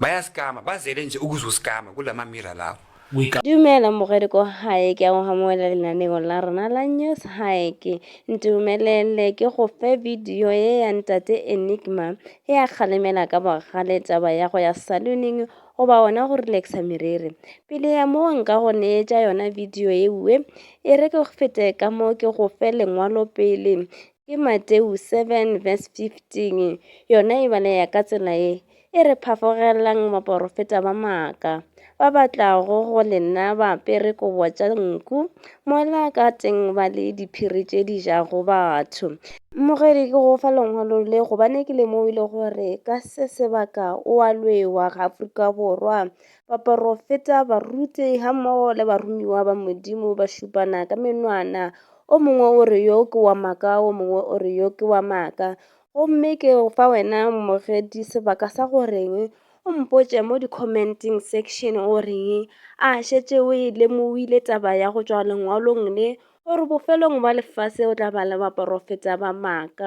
Bayasikama, bazele nje ukuzosikama kula mamira lawo. Dumela mogeriko gae ke a go gamoela lenaneo la rena la news gae ke ntumelele ke go fe video ye ya ntate enigma ge a kgalemela ka bogale taba ya go ya saloning goba ona go relaxa meriri pele ya moo nka go neetša yona video ewe e re ke fete ka mo ke go fe lengwalo pele Ke Mateu 7 verse 15 yona e balea ka tsela ye e re phafogelelang baporofeta ba maaka ba batlago go le nna ba apere kobo tša nku mola ka teng ba le diphiri tše di jago batho. Mmogedi ke go fa lengwalo le gobane ke lemogile gore ka se sebaka o a lwewa ga Afrika Borwa. Baporofeta, baruti ga mmogo le barumiwa ba Modimo ba šupana ka menwana O mongwe o re yo ke wa maaka, o mongwe o re yo ke wa maaka. Gomme ke fa wena mmogedi sebaka sa go reng o mpotše mo di-commenting section o reng a šetše o e lemohile taba ya go tšwa lengwalong le gore bofelong ba lefase o tla ba le baporofeta ba maaka.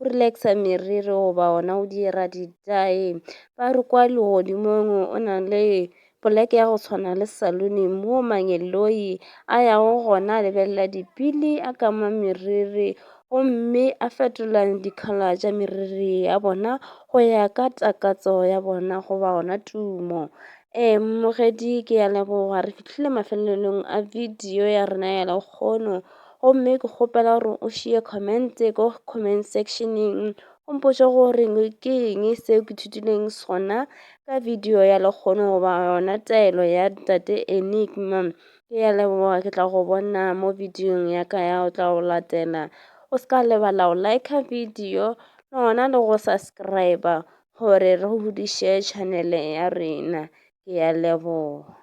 o relaxa meriri goba ona o dira ditae ba re kwa legodimong o na le poleke ya go tshwana le salone mo mangeloi a yago gona a lebelela dipili a kama meriri gomme a fetola dikhala tša meriri ya bona go ya ka takatso ya bona goba ona tumo ee mmogedi ke ya leboga re fihlile mafelelong a video ya rena ya lekgono Gomme ke kgopela gore o šie comment ko comment sectioneng o mpotše gore ke eng seo ke thutileng sona ka video ya lekgono goba yona taelo ya tate enigma ke ya leboga ke tla go bona mo videong ya ka ya o tla go latela o se ka lebala o like video le gona le go subscribe gore re godiše channel ya rena ke ya leboga